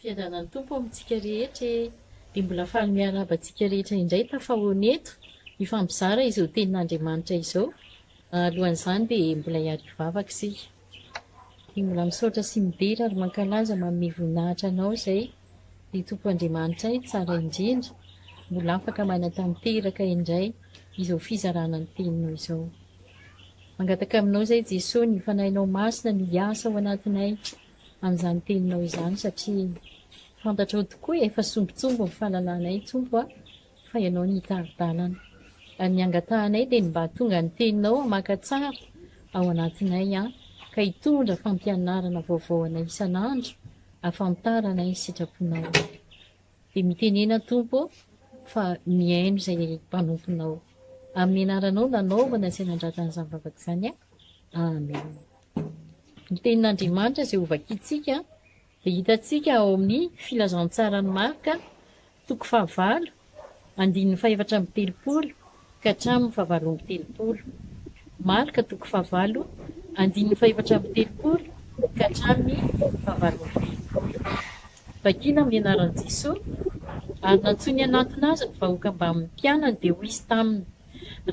Fiadanan'ny Tompo amintsika rehetra e! Dia mbola faly miarahaba antsika rehetra indray tafahaona eto, hifampizara izao Tenin'Andriamanitra izao. Alohan'izany dia mbola hiady hivavaka isika. Dia mbola misaotra sy midera ary mankalaza manome voninahitra Anao izay, ry Tompo Andriamanitray tsara indrindra, mbola afaka manatanteraka indray izao fizarana ny Teninao izao. Mangataka aminao izay Jesoa ny Fanahinao Masina no hiasa ao anatinay. an'izany teninao izany satria fantatrao tokoa efa sombintsomby ny fanalanay Tompo a! fa Ianao ny hitari-dalana ary ny angatahanay dia ny mba hahatonga ny teninao hamaka tsara ao anatinay an! ka hitondra fampianarana vaovao anay isan'andro ahafantaranay ny sitraponao dia mitenena Tompo fa mihaino izay mpanomponao amin'ny anaranao nanaovana sy nandrata an'izany vavaka izany Amen. ny Tenin'Andriamanitra izay hovakintsika dia hitantsika ao amin'ny Filazantsaran'i Marka, toko fahavalo, andininy fahefatra amby telopolo ka hatramin'ny fahavalo amby telopolo. Marka, toko fahavalo, andininy fahefatra amby telopolo ka hatramin'ny fahavalo amby telopolo. Vakina amin'ny anaran'i Jesoa, ary nantsoiny hanatona Azy ny vahoaka mbamin'ny mpianany, dia hoy Izy taminy,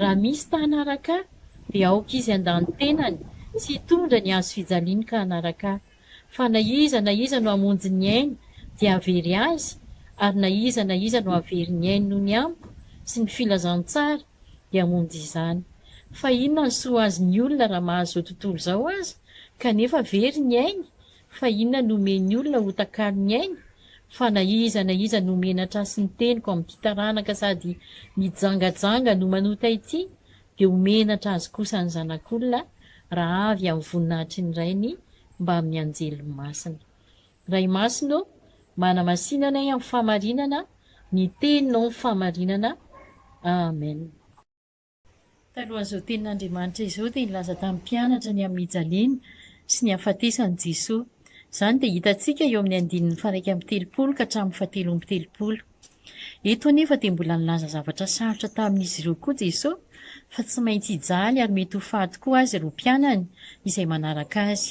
Raha misy ta-hanaraka Ahy, dia aoka izy handà ny tenany sy hitondra ny hazo fijaliany ka hanaraka ahy. Fa na iza na iza no hamonjy ny ainy dia hahavery azy, ary na iza na iza no hahavery ny ainy noho ny amiko sy ny filazantsara dia hamonjy izany. Fa inona no soa ho azy ny olona raha mahazo izao tontolo izao aza, kanefa very ny ainy? Fa inona no omen'ny olona ho takalon'ny ainy? Fa na iza na iza no menatra ahy sy ny teniko amin'ity taranaka sady mijangajanga no manota ity, dia ho menatra azy kosa ny Zanak'olona raha avy amin'ny voninahitry ny Rainy mbamin'ny anjeliny masina. Ray Masina ô, manamasina anay amin'ny fahamarinana, ny Teninao ny fahamarinana. Amen. Talohan'izao tenin'Andriamanitra izao dia nilaza tamin'ny mpianatra ny amin'ny hijaliana sy ny hahafatesan'i Jesoa. Izany dia hitantsika eo amin'ny andininy faharaika amby telopolo ka hatramin'ny fahatelo amby telopolo. Eto anefa dia mbola nilaza zavatra sarotra tamin'izy ireo koa Jesoa fa tsy maintsy hijaly ary mety ho faty koa azy ireo mpianany izay manaraka azy.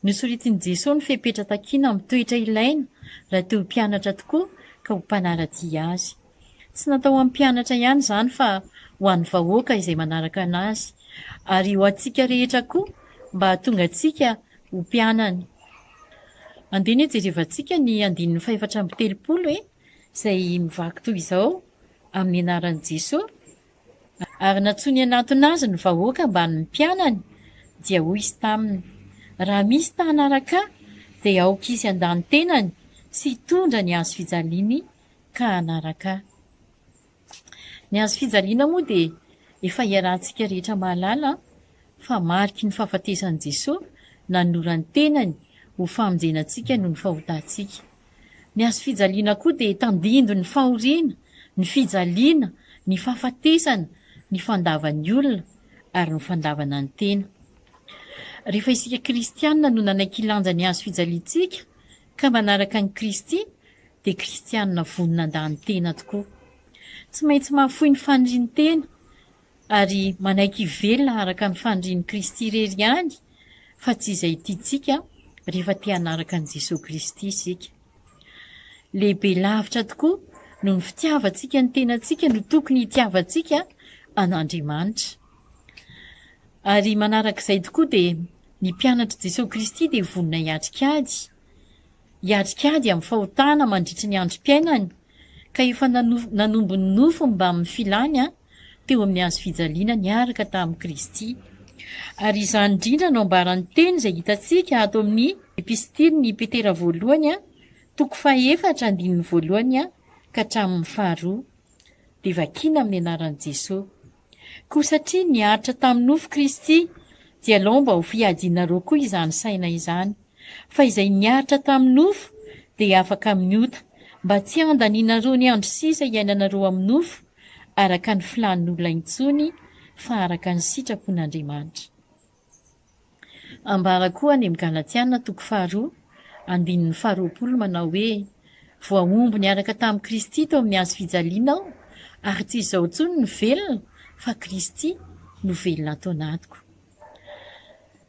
Nosoritin'i Jesoa ny fepetra takiana amin'ny toetra ilaina raha te ho mpianatra tokoa ka ho mpanara-dia Azy. Tsy natao ho an'ny mpianatra ihany izany fa ho an'ny vahoaka izay manaraka an'Azy, ary ho antsika rehetra koa mba hahatonga antsika ho mpianany. Andeha anie jerevantsika ny andininy fahefatra amby telopolo e, izay mivaky toy izao, Amin'ny anaran'i Jesoa. Ary nantsoiny hanantona azy ny vahoaka ambany ny mpianany, dia hoy izy taminy, Raha misy ta hanaraka ahy, dia aoka izy handà ny tenany sy hitondra ny hazo fijaliany ka hanaraka ahy. Ny hazo fijaliana moa dia efa iarahantsika rehetra mahalala fa mariky ny fahafatesan'i Jesoa nanolora ny tenany ho famonjena antsika noho ny fahotantsika. Ny hazo fijaliana koa dia tandindon' ny fahoriana, ny fijaliana, ny fahafatesana, ny fandavan' ny olona ary ny fandavana ny tena. Rehefa isika kristiana no nanaiky hilanja ny hazo fijaliantsika ka manaraka an'i Kristy dia kristiana vonona handaha-ny tena tokoa. Tsy maintsy mahafoy ny fanirian-tena. ary manaiky hivelona araka ny fanirian'i Kristy irery ihany fa tsy izay tiantsika rehefa te hanaraka an'i Jesoa Kristy isika. Lehibe lavitra tokoa noho ny fitiavantsika ny tenantsika no tokony hitiavantsika an'Andriamanitra. Ary manarak'izay tokoa dia ny mpianatr'i Jesoa Kristy dia vonona hiatrika ady, hiatrika ady amin'ny fahotana mandritry ny androm-piainany, ka efa nanombo ny nofony mbamin'ny filany teo amin'ny hazo fijaliana niaraka tamin'i Kristy. Ary izany indrindra no ambaran'ny teny izay hitantsika ato amin'ny Epistilin'i Petera voalohany, toko fahefatra, andininy voalohany ka hatramin'ny faharoa. Dia vakiana amin'ny anaran'i Jesoa. Koa satria niaritra tamin'ny nofo Kristy, dia alao mba ho fiadianareo koa izany saina izany. Fa izay niaritra tamin'ny nofo dia afaka amin'ny ota, mba tsy handanianareo ny andro sisa iainanareo amin'ny nofo, araka ny filàn'ny olona intsony, fa araka ny sitrapon'Andriamanitra. Ambara koa any amin'ny Galatiana toko faharoa, andininy faharoapolo manao hoe, Voahombo niaraka tamin'i Kristy teo amin'ny hazo fijaliana aho, ary tsy izaho intsony no velona, fa Kristy no velona ato anatiko.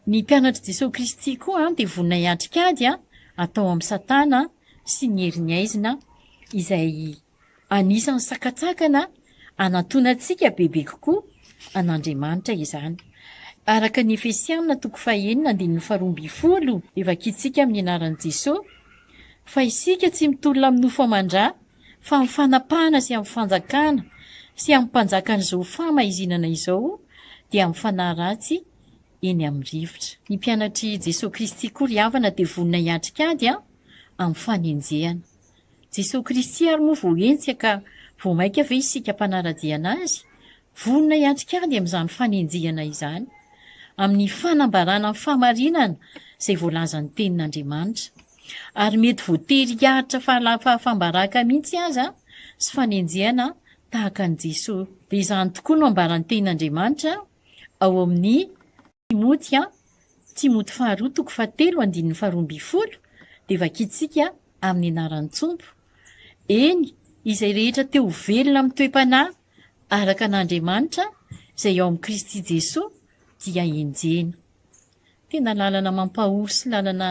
Ny mpianatr'i Jesoa Kristy koa dia vonona hiatrika ady atao amin'i Satana sy ny heriny aizina izay Anisan'ny sakantsakana anantonantsika bebe kokoa an'Andriamanitra izany. Araka ny Efesiana toko fahenina andininy faharoa ambin'ny folo dia vakintsika amin'ny anaran'i Jesoa fa isika tsy mitolona amin'ny nofo aman-dra fa amin'ny fanapahana sy amin'ny fanjakana sy amin'ny mpanjakan'izao fahamahizinana izao dia amin'ny fanahy ratsy eny amin'ny rivotra. Ny mpianatr'i Jesoa Kristy koa ry havana dia vonona hiatrika ady amin'ny fanenjehana. Jesoa Kristy ary moa vao henjika ka vao mainka ve isika mpanara-dia an'Azy, vonona hiatrika ady amin'izany fanenjehana izany, amin'ny fanambarana ny fahamarinana izay voalazan'ny Tenin'Andriamanitra. Ary mety voatery hiaritra fahafaham-baraka mihitsy aza sy fanenjehana tahaka an'i Jesoa. Dia izany tokoa no ambaran'ny Tenin'Andriamanitra ao amin'ny. Timoty A, Timoty faharoa toko fahatelo andininy faharoa ambin'ny folo dia vakintsika amin'ny anaran'ny Tompo. Eny, izay rehetra te ho velona amin'ny toe-panahy araka an'Andriamanitra izay ao amin'i Kristy Jesoa dia enjehina. Tena lalana mampahory sy lalana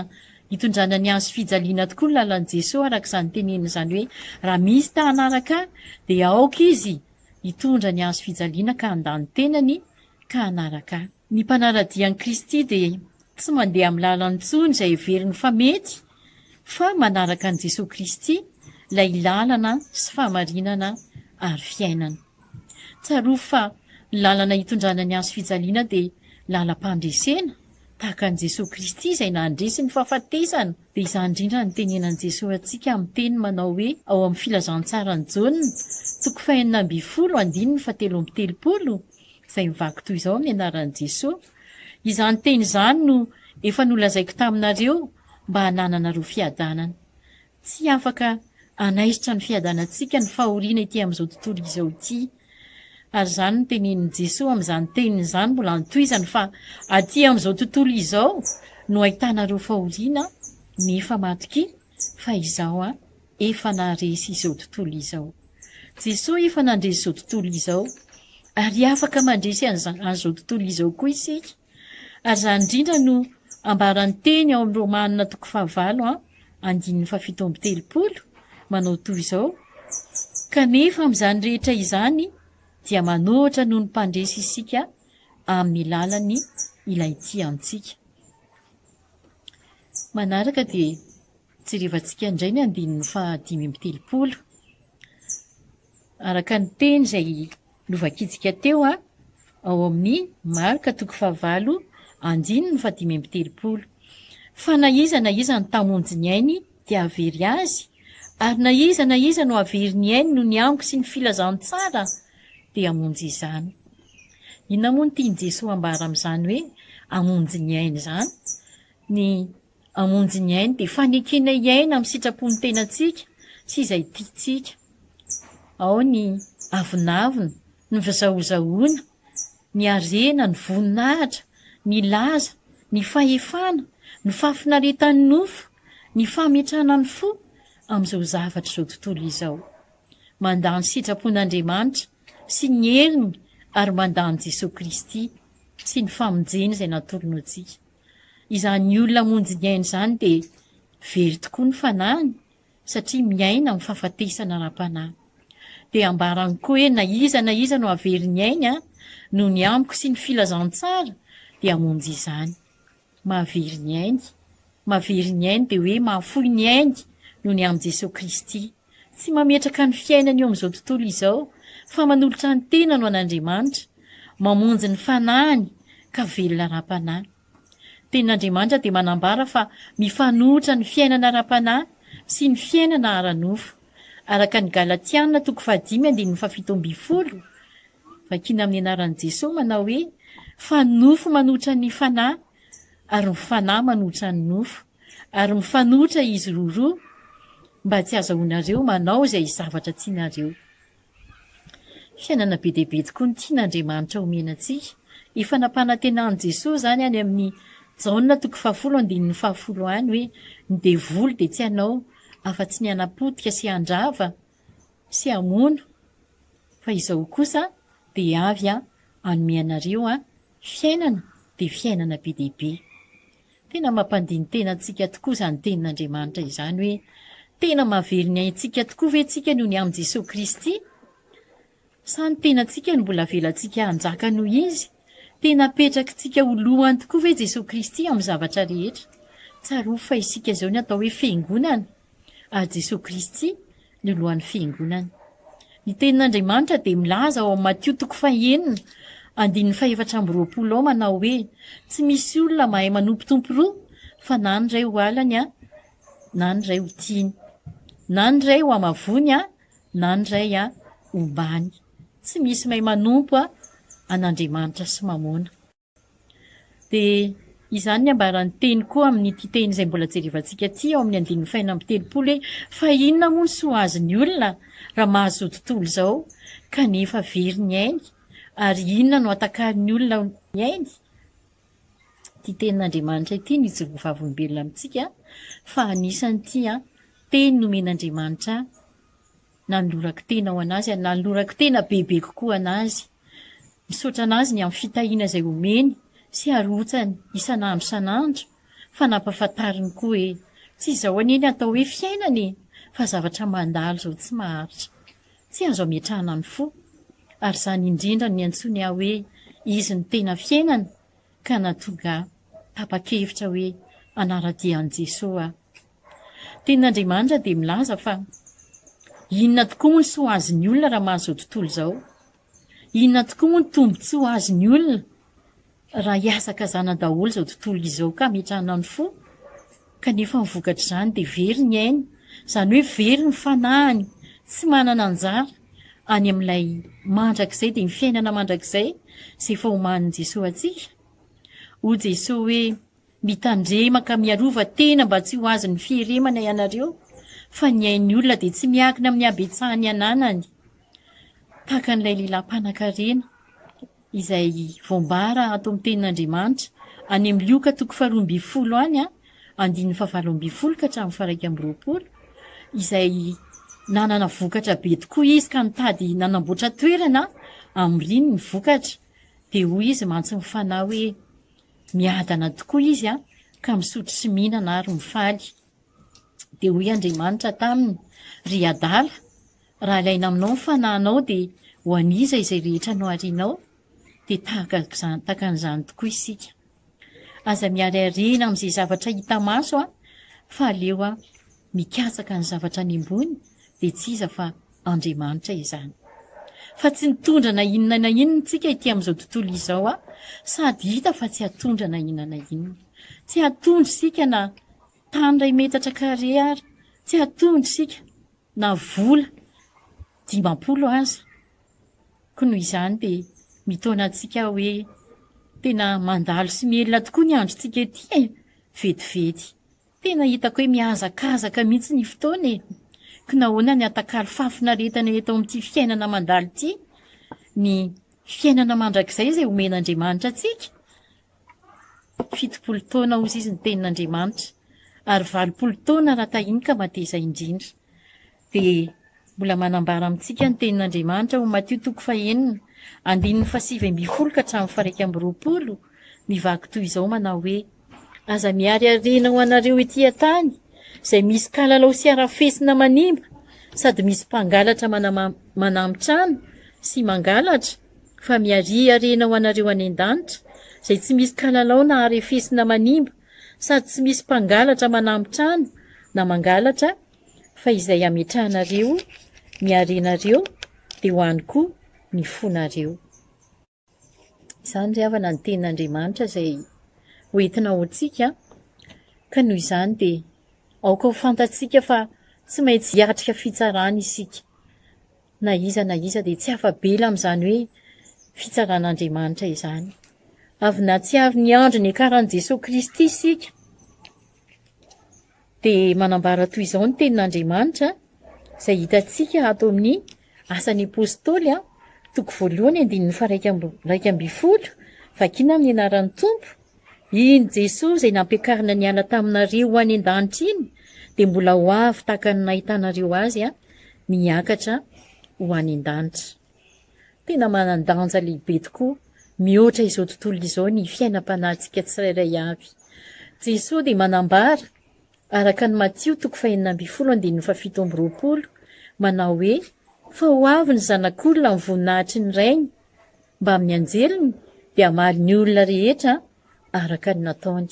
hitondrana ny hazo fijaliana tokoa ny lalan'i Jesoa araka izany teneniny izany hoe raha misy ta hanaraka ahy dia aoka izy hitondra ny hazo fijaliana ka handany tenany ka hanaraka ahy. Ny mpanara-dia an'i Kristy dia tsy mandeha amin'ny lalany intsony izay heveriny fa mety, fa manaraka an'i Jesoa Kristy, ilay lalana sy fahamarinana ary fiainana. Tsarovy fa ny lalana hitondrana ny hazo fijaliana dia lalam-pandresena, tahaka an'i Jesoa Kristy izay nandresy ny fahafatesana, dia izany indrindra no tenenan'i Jesoa antsika amin'ny teniny manao hoe ao amin'ny Filazantsaran'i Jaona, toko fahenina ambin'ny folo, andininy fahatelo amby telopolo, izay mivaky toy izao amin'ny anaran'i Jesoa, izany teny izany no efa nolazaiko taminareo mba hanananareo fiadanana. Tsy afaka hanaisotra ny fiadanantsika ny fahoriana ety amin'izao tontolo izao ity. Ary izany no tenenin'i Jesoa amin'izany teniny izany mbola antohizany fa aty amin'izao tontolo izao no ahitanareo fahoriana nefa matokia fa izaho an efa naharesy izao tontolo izao. Jesoa efa nandresy izao tontolo izao, ary afaka mandresy an'izao tontolo izao koa isika, ary izany indrindra no ambaran'ny teny ao amin'ny Romana toko fahavalo andininy fahafito amby telopolo, manao toy izao, Kanefa amin'izany rehetra izany dia manohitra noho ny Mpandresy isika amin'ny lalan'ny Ilay tia antsika. Manaraka dia Jerevantsika indray ny andininy faha dimy amby telopolo. Araka ny teny izay novakintsika teo ao amin'ny Marka toko fahavalo andininy faha dimy amby telopolo. Fa na iza na iza no tamonjy ny ainy dia havery azy, ary na iza na iza no havery ny ainy noho ny amiko sy ny filazantsara dia hamonjy izany. Inona moa no tian'i Jesoa ambara amin'izany hoe hamonjy ny ainy izany? Ny Hamonjy ny ainy dia fanekena hiaina amin'ny sitrapon'ny tenantsika sy izay tiantsika. Ao ny avonavona, ny fizahozahoana, ny harena, ny voninahitra, ny laza, ny fahefana, ny fahafinaretan'ny nofo, ny fametrahana ny fo amin'izao zavatr'izao tontolo izao. Mandà ny sitrapon'Andriamanitra sy ny heriny ary mandà an'i Jesoa Kristy sy ny famonjeny izay natolony ho antsika. Izany olona hamonjy ny ainy izany dia very tokoa ny fanahiny satria miaina amin'ny fahafatesana ara-panahy. Dia ambarany koa hoe na iza na iza no hahavery ny ainy noho ny amiko sy ny filazantsara dia hamonjy izany. Mahavery ny ainy. Mahavery ny ainy dia hoe mahafoy ny ainy noho ny amin'i Jesoa Kristy. Tsy mametraka ny fiainany eo amin'izao tontolo izao, fa manolotra ny tenany ho an'Andriamanitra, mamonjy ny fanahiny ka velona ara-panahy. Ny Tenin'Andriamanitra dia manambara fa mifanohitra ny fiainana ara-panahy sy ny fiainana ara-nofo, araka ny Galatiana toko fahadimy andininy fahafito ambin'ny folo, vakina amin'ny anaran'i Jesoa, manao hoe, Fa ny nofo manohitra ny fanahy, ary ny fanahy manohitra ny nofo. ary mifanohitra izy roroa mba tsy azahoanareo manao izay zavatra tianareo. Fiainana be dia be tokoa ny tian'Andriamanitra homena antsika. Efa nampanantenan'i Jesoa izany any amin'ny Jaona toko fahafolo andininy fahafolo any hoe, Ny devoly dia tsy hanao afa-tsy ny hanapotika sy handrava sy hamono, fa izaho kosa dia avy hanome anareo fiainana dia fiainana be dia be. Tena mampandini-tena antsika tokoa izany tenin'Andriamanitra izany hoe tena mahavery ny aintsika tokoa ve tsika noho ny amin'i Jesoa Kristy? Sa ny tenantsika no mbola avelantsika hanjaka noho Izy? Tena apetrakintsika ho lohany tokoa ve Jesoa Kristy amin'ny zavatra rehetra? Tsarovy fa isika izao ny atao hoe Fiangonana, ary Jesoa Kristy ny lohan'ny fiangonana. Ny tenin'Andriamanitra dia milaza ao amin'ny Matio toko fahenina andininy fahefatra amby roapolo ao manao hoe tsy misy olona mahay manompo tompo roa fa na ny iray ho alany a na ny iray ho tiany na ny iray ho amavony a na ny iray a ombany tsy misy may manompo a an'Andriamanitra sy mamona Dia izany ny ambaran'ny teny koa amin'ity teny izay mbola jerevantsika ity ao amin'ny andininy fahenina amby telopolo hoe, Fa inona moa no soa azon'ny olona raha mahazo izao tontolo izao kanefa very ny ainy? Ary inona no atakarin'ny olona ny ainy? Ity tenin'Andriamanitra ity nijoroa vavolombelona amintsika fa anisan'ity teny nomen'Andriamanitra Nanolorako tena ho an'azy aho, nanolorako tena bebe kokoa an'azy. Misaotra an'azy ny amin'ny fitahiana izay omeny sy arotsany isan'andro isan'andro fa nampahafantariny koa hoe tsy izao anie ny atao hoe fiainana e! fa zavatra mandalo izao tsy maharitra. Tsy azo ametrahana ny fo. Ary izany indrindra no niantsoany ahy hoe izy no tena fiainana ka nahatonga ahy tapa-kevitra hoe hanara-dia an'i Jesoa aho. Tenin'Andriamanitra dia milaza fa, Inona tokoa moa ny soa azon'ny olona raha mahazo izao tontolo izao? Inona tokoa moa ny tombontsoa azon'ny olona raha hihazakazana daholo izao tontolo izao ka hametrahana ny fo? Kanefa ny vokatr'izany dia very ny ainy, izany hoe very ny fanahiny, tsy manana anjara any amin'ilay mandrakizay, dia ny fiainana mandrakizay izay efa omanin'i Jesoa antsika. Hoy Jesoa hoe. Mitandrema ka miarova tena mba tsy ho azon'ny fieremana ianareo fa ny ain'ny olona dia tsy miankina amin'ny habetsahan'ny ananany. Tahaka an'ilay lehilahy mpanankarena izay voambara ato amin'ny tenin'Andriamanitra any amin'ny Lioka toko faharoa ambin'ny folo any an, andininy fahavalo ambin'ny folo ka hatramin'ny fahairaika amby roapolo, izay nanana vokatra be tokoa izy ka nitady nanamboatra toerana hamoriany ny vokatra. Dia hoy izy mantsy ny fanahy hoe, Miadana tokoa izy ka misotro sy mihinana ary mifaly. Dia hoy Andriamanitra taminy, Ry adala, raha ilaina aminao ny fanahinao, dia ho an'iza izay rehetra no harianao? Dia tahaka an'izany tokoa isika. Aza miharihariana amin'izay zavatra hita maso fa aleo mikatsaka ny zavatra any ambony, dia tsy iza fa Andriamanitra izany. Fa tsy nitondra na inona na inona isika ity amin'izao tontolo izao a, sady hita fa tsy hatondra na inona na inona. Tsy hatondra isika na tany iray metatra kare ary, tsy hatondra isika na vola dimampolo aza. Koa noho izany dia mitaona antsika hoe tena mandalo sy mielina tokoa ny androntsika ety e, vetivety. Tena hitako hoe mihazakazaka mihitsy ny fotoana e! Ka nahoana ny atakalo fahafinaretana eto amin'ity fiainana mandalo ity? Ny fiainana mandrakizay izay omen'Andriamanitra antsika? Fitopolo taona hozy izy ny tenin'Andriamanitra, ary valopolo taona raha tahian'ny ka mateza indrindra. dia mbola manambara amintsika ny Tenin'Andriamanitra ao Matio toko fahenina, andininy fahasivy ambin'ny folo ka hatramin'ny faharaika amby roapolo, mivaky toy izao manao hoe, Aza miariariana ho anareo ety an-tany, izay misy kalalao sy harafesina manimba, sady misy mpangalatra manam-manamy trano sy mangalatra, fa miariariana ho anareo any an-danitra, izay tsy misy kalalao na harefesina manimba, sady tsy misy mpangalatra manamby trano na mangalatra fa izay ametrahanareo ny harenareo dia ho any koa ny fonareo. Izany ry havana ny tenin'Andriamanitra izay ho entina ho antsika ka noho izany dia aoka ho fantatsika fa tsy maintsy hiatrika fitsarana isika. na iza na iza dia tsy afa-bela amin'izany hoe fitsaran'Andriamanitra izany. Avy nahatsiaro ny andro niakaran'i Jesoa Kristy isika, dia manambara toy izao ny tenin'Andriamanitra, izay hitantsika ato amin'ny Asan'ny Apostoly, a, toko voalohany andininy faharaika amby- iraika ambin'ny folo, Vakina amin'ny anaran'ny Tompo, Iny Jesoa izay nampiakarina niala taminareo ho any an-danitra iny dia mbola ho avy tahaka ny nahitanareo Azy miakatra ho any an-danitra. Tena manan-danja lehibe tokoa mihoatra izao tontolo izao ny fiainam-panahintsika tsirairay avy. Jesoa dia manambara, araka ny Matio toko fahenina ambin'ny folo andininy fahafito amby roapolo, manao hoe, Fa ho avy ny Zanak'olona amin'ny voninahitry ny Rainy, mbamin'ny anjeliny dia hamaly ny olona rehetra araka ny nataony.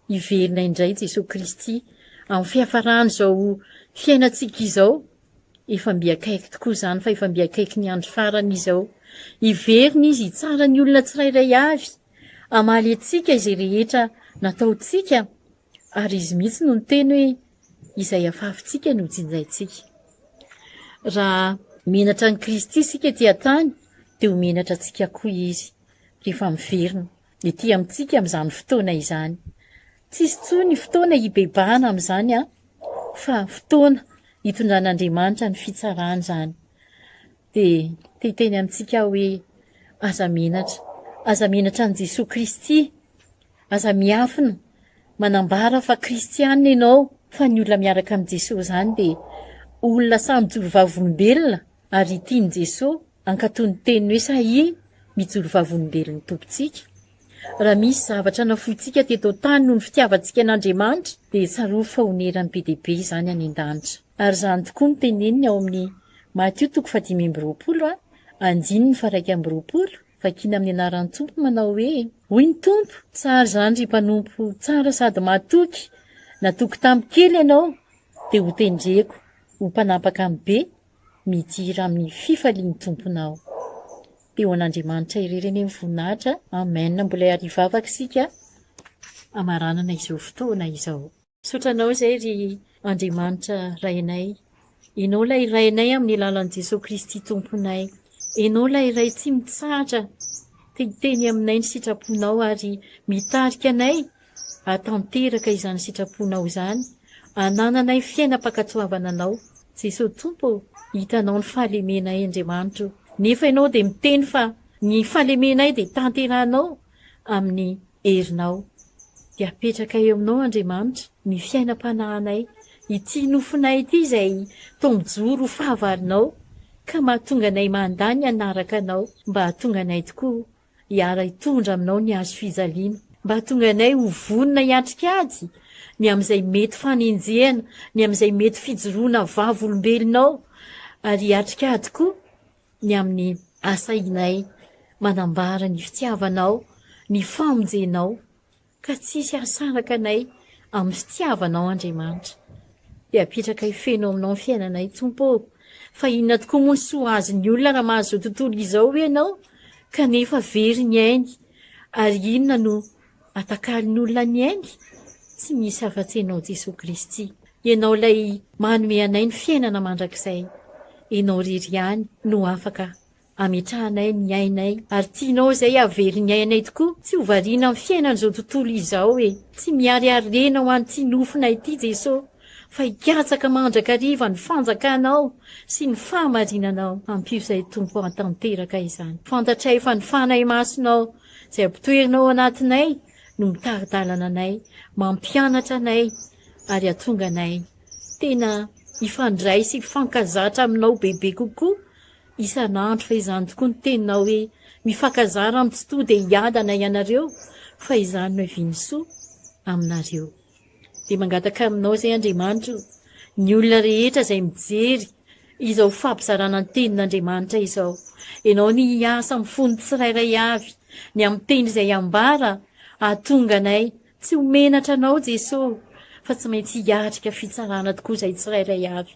Hiverina indray Jesoa Kristy amin'ny fiafaran'izao fiainantsika izao. Efa mby akaiky tokoa izany fa efa mby akaiky ny andro farany izao. Hiverina Izy hitsara ny olona tsirairay avy, hamaly antsika izay rehetra nataontsika Ary Izy mihitsy no niteny hoe, Izay afafintsika no jinjaintsika. Raha menatra an'i Kristy isika ety an-tany, dia ho menatra antsika koa Izy, rehefa miverina ety amintsika amin'izany fotoana izany. Tsy hisy intsony fotoana hibebahana amin'izany, fa fotoana hitondran'Andriamanitra ny fitsarany izany. dia te hiteny amintsika aho hoe, aza menatra. Aza menatra an'i Jesoa Kristy. Aza miafina manambara fa kristiana ianao, fa ny olona miaraka amin'i Jesoa izany dia olona sahy mijoro vavolombelona ary tian'i Jesoa hankatò ny teniny hoe sahia mijoro vavolombelon'ny Tompontsika. Raha misy zavatra nafointsika teto an-tany noho ny fitiavantsika an'Andriamanitra, dia tsarovy fa honeran'ny be dia be izany any an-danitra. Ary izany tokoa no teneniny ao amin'ny Matio toko fahadimy amby roapolo, andininy faha-iraika amby roapolo, vakina amin'ny anaran'ny Tompo manao hoe, Hoy ny Tompo, Tsara izany ry mpanompo tsara sady mahatoky, natoky tamin'ny kely ianao, dia hotendreko ho mpanapaka amin'ny be, midira amin'ny fifalian'ny Tomponao. Dia ho an'Andriamanitra irery anie ny voninahitra. Amen. Mbola hiarivavaka isika hamaranana izao fotoana izao. Misaotra Anao izay ry Andriamanitra Rainay. Ianao ilay Rainay amin'ny alalan'i Jesoa Kristy Tomponay. Ianao ilay Ray tsy mitsahatra te hiteny aminay ny sitraponao ary mitarika anay hahatanteraka izany sitraponao izany, hanananay fiainam-pankatoavana Anao. Jesoa Tompo ô, hitanao ny fahalemenay Andriamanitra ô, nefa Ianao dia miteny fa ny fahalemenay dia tanterahinao amin'ny herinao. Dia apetraka eo aminao Andriamanitra ny fiainam-panahinay, ity nofonay ity izay tombo-joro ho fahavalonao ka mahatonga anay mandà ny hanaraka anao mba hahatonga anay tokoa hiara hitondra aminao ny hazo fijaliana, mba hahatonga anay ho vonona hiatrika ady ny amin'izay mety fanenjehana, ny amin'izay mety fijoroana vavolombelonao ary hiatrika ady koa. ny amin'ny asainay manambara ny fitiavanao, ny famonjenao, ka tsy hisy hahasaraka anay amin'ny fitiavanao Andriamanitra. Dia apetraka hifeno aminao ny fiainanay Tompo ô! Fa inona tokoa moa ny soa azon'ny olona raha mahazo tontolo izao ianao kanefa very ny ainy ary inona no Atakarin'ny olona ny ainy, tsy misy afa-tsy Ianao Jesoa Kristy. Ianao ilay manome anay ny fiainana mandrakizay. Ianao irery ihany no afaka ametrahanay ny ainay ary tianao izay hahavery ny ainay tokoa, tsy ho variana amin'ny fiainan'izao tontolo izao e. Tsy miharihary rena ho an'ity nofonay ity Jesoa fa hikatsaka mandrakariva ny fanjakanao sy ny fahamarinanao. Ampio izay Tompo hahatanteraka izany. Fantatray fa ny Fanahy Masinao Izay ampotoerina ao anatinay no mitari-dalana anay, mampianatra anay ary hatonga anay tena hifandray sy hifankazatra aminao bebe kokoa isan'andro fa izany tokoa ny teninao hoe mifakazara amin'ny tsy to dia hiadana ianareo fa izany no hiviany soa aminareo. Dia mangataka aminao izay Andriamanitra o, ny olona rehetra izay mijery izao fampizarana ny tenin'Andriamanitra izao. Ianao ny hiasa amin'ny fon'ny tsirairay avy, ny amin'ny teny izay ambara hahatonga anay tsy ho menatra Anao Jesoa fa tsy maintsy hiatrika fitsarana tokoa izay tsirairay avy.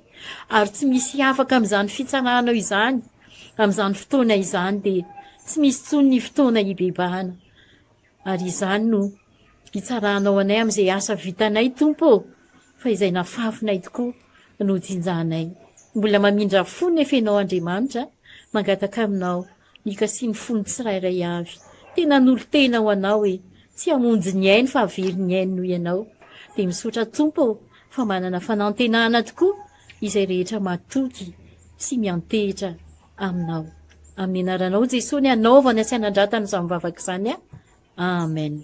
Ary tsy misy afaka amin'izany fitsaranao izany amin'izany fotoana izany dia tsy misy intsony ny fotoana hibebahana. Ary izany no hitsarahanao anay amin'izay asa vitanay, Tompo ô, fa izay nafafinay tokoa no jinjanay. Mbola mamindra fo nefa ianao Andriamanitra, mangataka aminao ny hikasian'ny fon'ny tsirairay avy. Tena hanolo-tena ho anao e! Tsy hamonjy ny ainy fa havery ny ainy noho ianao. Dia misaotra Tompo ô, fa manana fanantenana tokoa izay rehetra matoky sy miantehitra Aminao. Amin'ny anaranao Jesoa ny anaovany sy anandratany izany vavaka izany. Amen.